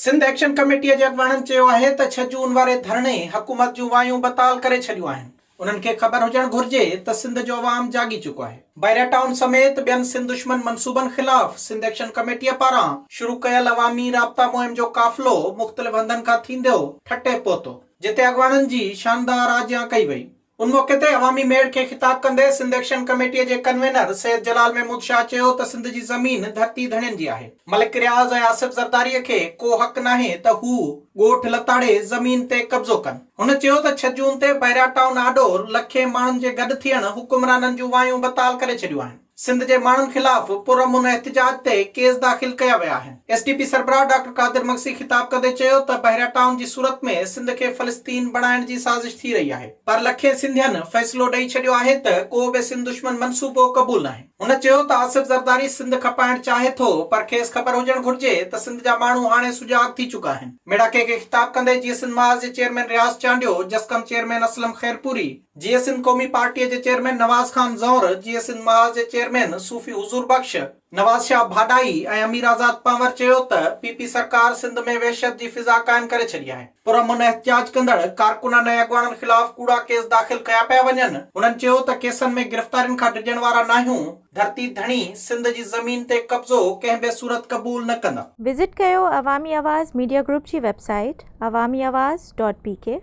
Sindh action ڪميٽيء جي اڳواڻن چيو آهي ته ڇهه جون واري ڌرڻي حڪومت جون وايون بتال ڪري ڇڏيون آهن، انهن کي خبر هجڻ گهرجي ته سنڌ جو عوام جاڳي چڪو آهي. بحريا ٽائون سميت ٻين سنڌ دشمن منصوبن خلاف سنڌ ايڪشن ڪميٽيء پاران شروع ڪيل عوامي رابطا مهم جو قافلو مختلف هنڌن کان ٿينديو ٺٽي پهتو، جتي اڳواڻن جي شاندار آجيان ڪئي وئي. ان موقعي تي عوامي ميڙ کي خطاب ڪندي سنڌ ايڪشن ڪميٽي جي ڪنوينر سيد جلال محمود شاهه چيو ته سنڌ جي زمين ڌرتي ڌڻين جي آهي، ملڪ رياض ۽ آصف زرداري کي ڪو حق ناهي ته هو ڳوٺ لتاڙي زمين تي قبضو ڪن. هن چيو ته ڇهه جون تي بحريا ٽائون آڏو لکين ماڻهن جي گڏ ٿيڻ حڪمرانن جون وايون بتال ڪري ڇڏيون آهن. سنڌ جي ماڻهن خلاف پرامن احتجاج تي ڪيس داخل ڪيا ويا آهن، ايس ٽي پي سربراهه ڊاڪٽر قادر مگسي خطاب ڪندي چيو ته بحريا ٽائون جي صورت ۾ سنڌ کي فلسطين بڻائڻ جي سازش ٿي رهي آهي پر لکين سنڌين فيصلو ڏئي ڇڏيو آهي ته ڪو به سنڌ دشمن منصوبو قبول ناهي. هن چيو ته آصف زرداري سنڌ کپائڻ چاهي ٿو پر کيس خبر هجڻ گهرجي ته سنڌ جا ماڻهو هاڻي سجاڳ ٿي چڪا آهن، ميڙاڪي کي خطاب ڪندي جيئي سنڌ محاذ جي چيئرمين رياض چانڊيو، جسقم چيئرمين اسلم خيرپوري، جيئي سنڌ قومي پارٽيء جي چيئرمين نواز خان زهر، جيئي سنڌ محاذ جي چيئرمين صوفي حضور بخش، نواز شاهه ڀاڏائي ۽ امير آزاد پنهور چيو ته پي پي سرڪار سنڌ ۾ وحشت جي فضا قائم ڪري ڇڏي آهي، پرامن احتجاج ڪندڙ ڪارڪنن ۽ اڳواڻن خلاف ڪوڙا ڪيس داخل ڪيا پيا وڃن، هنن چيو ته ڪيسن ۾ گرفتارين کان ڊڄڻ وارا ناهيون، ڌرتي ڌڻي سنڌ جي زمين تي قبضو ڪنهن به صورت قبول نه ڪندا. وزٽ ڪيو عوامي آواز ميڊيا گروپ جي web site Awami Awaz dot P ڪي.